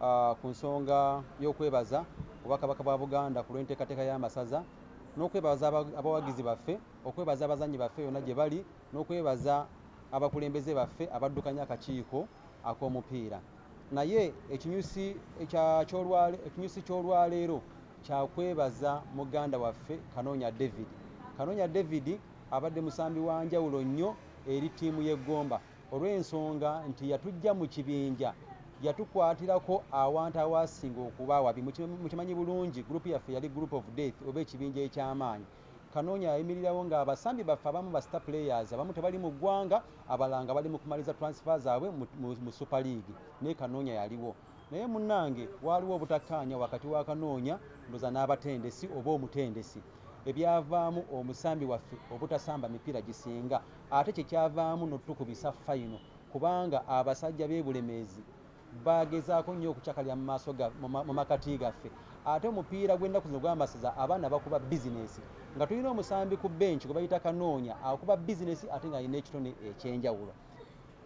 uh, ku nsonga y'okwebaza obwakabaka bwa buganda ku lw'enteekateeka y'amasaza n'okwebaza abawagizi baffe okwebaza abazanyi baffe yonna gye bali n'okwebaza abakulembeze baffe abaddukanya akakiiko ak'omupiira naye ekinyusi ky'olwaleero kyakwebaza muganda waffe kanoonya david kanoonya david abadde musambi wa njawulo nnyo eri ttiimu y'eggomba olw'ensonga nti yatujja mu kibinja yatukwatirako awantu awasinga okuba awabi mukimanyi bulungi gurupu yaffe yali group of death oba ekibinja eky'amaanyi kanoonya yayimirirawo nga abasambi baffe abamu ba star players abamu tebali mu ggwanga abalanga bali mu kumaliza transfer zaabwe mu super league naye kanoonya yaliwo naye munnange waaliwo obutakkaanya wakati wa kanoonya ndoza n'abatendesi oba omutendesi ebyavaamu omusambi waffe obutasamba mipiira gisinga ate kyekyavaamu notukubisa fayino kubanga abasajja bebulemeezi bagezaako nnyo okucakalira mu makati gaffe ate omupiira gw'ennaku zino gwamasiza abaana bakuba bizinesi nga tulina omusambi ku benki gwe bayita kanoonya akuba bizinesi ate ng'alina ekitone ekyenjawulo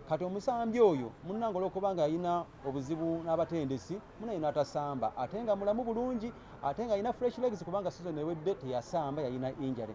kati omusambi oyo munanga olwokuba nga alina obuzibu n'abatendesi munaye n'atasamba ate nga mulamu bulungi ate nga alina fresh legs kubanga sizon ewedde teyasamba yalina injury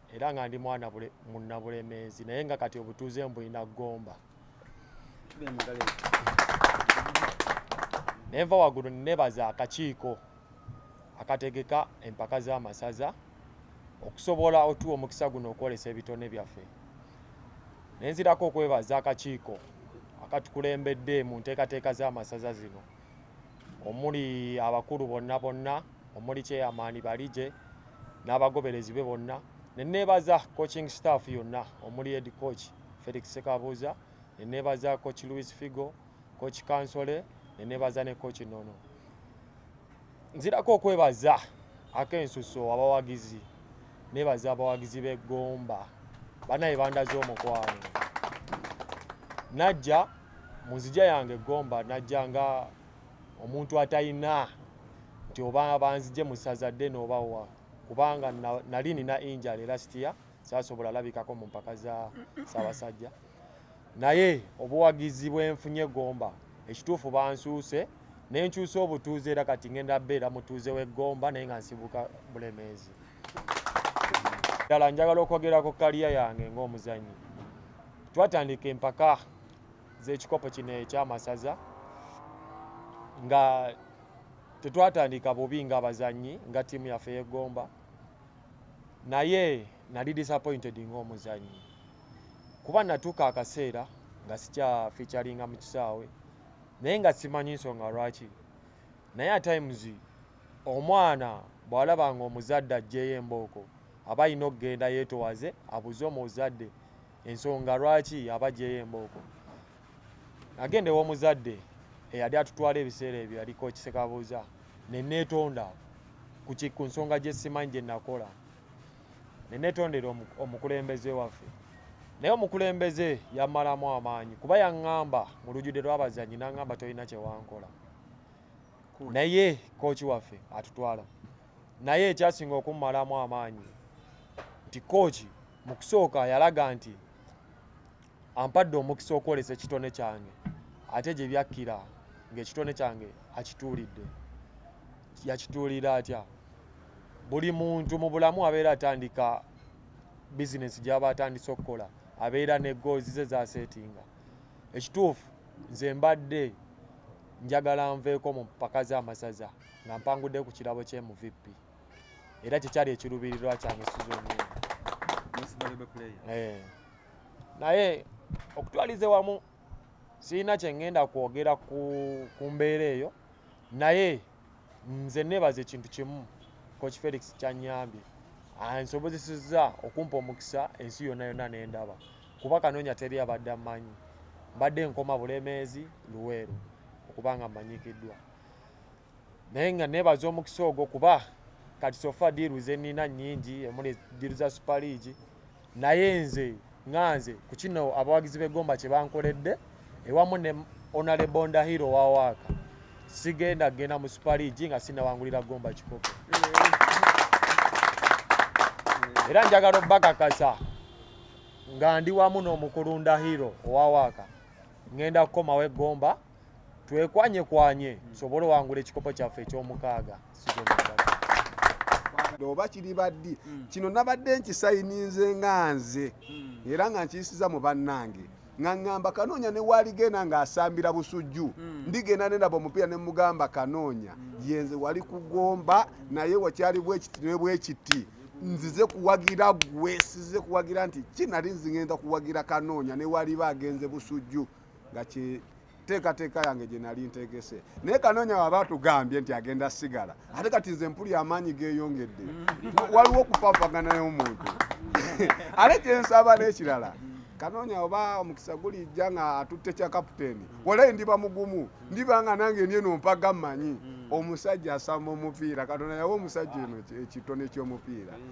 era nga ndi mwana munna bulemeezi naye nga kati obutuuze mbulina gomba nenva waggulu nebaza akakiiko akategeka empaka z'amasaza okusobola otuwa omukisa guno okwolesa ebitone byaffe nenzirako okwebaza akakiiko akatukulembedde mu nteekateeka z'amasaza zino omuli abakulu bonna bonna omuli kyeyamaani balije n'abagoberezi be bonna neneebaza coaching staff yonna omuli ed coach felix sekabuuza neneebaza coach louis figo coach kansole neneebaza ne coach nono nzirako okwebaza ak'ensuso abawagizi neebaza abawagizi b'eggomba banaye bandaze omukwano najja mu nzija yange eggomba najja nga omuntu atalina nti oba banzije mu ssaza ddene oba wa kubanga nali nina injala era sitiya saasobola alabikako mu mpaka za ssaabasajja naye obuwagizi bwenfunye eggomba ekituufu bansuuse nenkyusa obutuuze era kati ngenda beera mutuuze w'eggomba naye nga nsibuka bulemeezi ddala njagala okwogerako kaliya yange ng'omuzannyi twatandika empaka z'ekikopo kino ekyamasaza nga tetwatandika bubi nga abazannyi nga ttiimu yaffe yegomba naye nali disappointed ng'omuzannyi kuba natuuka akaseera nga sikya featuringa mu kisaawe naye nga simanyi nsonga lwaki naye atimes omwana bw'alabanga omuzadde ajjeeyo embooko aba alina okugenda yeetowaze abuze omuzadde ensonga lwaki abajjeyo embooko agenda ew'omuzadde eyali atutwala ebiseera ebyo yaliko kisekabuuza neneetonda ku nsonga gye simanyi gye nakola neneetondera omukulembeze waffe naye omukulembeze yamalamu amaanyi kuba yaŋŋamba mu lujudde lw'abazanyi n'aŋŋamba tolina kyewankola naye kooki waffe atutwala naye ekyasinga okummalamu amaanyi nti kooki mu kusooka yalaga nti ampadde omukisa okwolesa ekitone kyange ate gye byakkira ng'ekitone kyange akituulidde yakituulira atya buli muntu mu bulamu abeera atandika bizinesi gy'aba atandise okukola abeera ne goozi ze zaseetinga ekituufu nze mbadde njagala nveeko mu mpaka z'amasaza nga mpangudde ku kirabo kye mu vp era kyekyali ekirubirirwa kyange sizoni eh. naye okutwalize wamu sirina kyengenda kwogera ku mbeera eyo naye nze nebaza ekintu kimu coach felix kyanyambye ansobozesezza okumpa omukisa ensi yonna yonna nendaba kuba kanonya teri abadde amanyi mbadde nkoma bulemeezi luweero okubanga mmanyikiddwa naye nga nebaza omukisa ogwo kuba kati sofa diiru zenina nyingi emuli diiru za super league naye nze nga nze ku kino abawagizi b'eggomba kye bankoledde ewamu ne onale bonda hiro wa waaka sigenda kugenda mu super league nga sinawangulira ggomba kikopo era njagala obakakasa nga ndi wamu n'omukulunda hiro owa waaka ngenda kukomawo eggomba twekwanye kwanye tusobole owangula ekikopo kyaffe ekyomukaaga oba kiriba ddi hmm. kino nabadde nkisayininze nga nze hmm. era nga nkiyisiza mu bannange nga ŋŋamba kanoonya ne waaligenda ng'asambira busujju hmm. ndigenda ne ndaba omupiira ne mugamba kanoonya yenze wali kugomba naye wakyali bwekiti ne bwekiti nzize kuwagira gwe size kuwagira nti kinali nzingenda kuwagira kanoonya ne waaliba agenze busujju nga teekateeka yange gye nali ntegese naye kanoonya waba atugambye nti agenda sigala ate kati nze mpuli amaanyi geeyongedde waliwo okufaafagana y'omuntu ate kyensaba n'ekirala kanoonya oba omukisa gulijja nga atutte kya kaputeeni walayi ndiba mugumu ndiba nga nange ndyeno mpaga mmanyi omusajja asamba omupiira katonda yawa omusajja eno ekitone ky'omupiira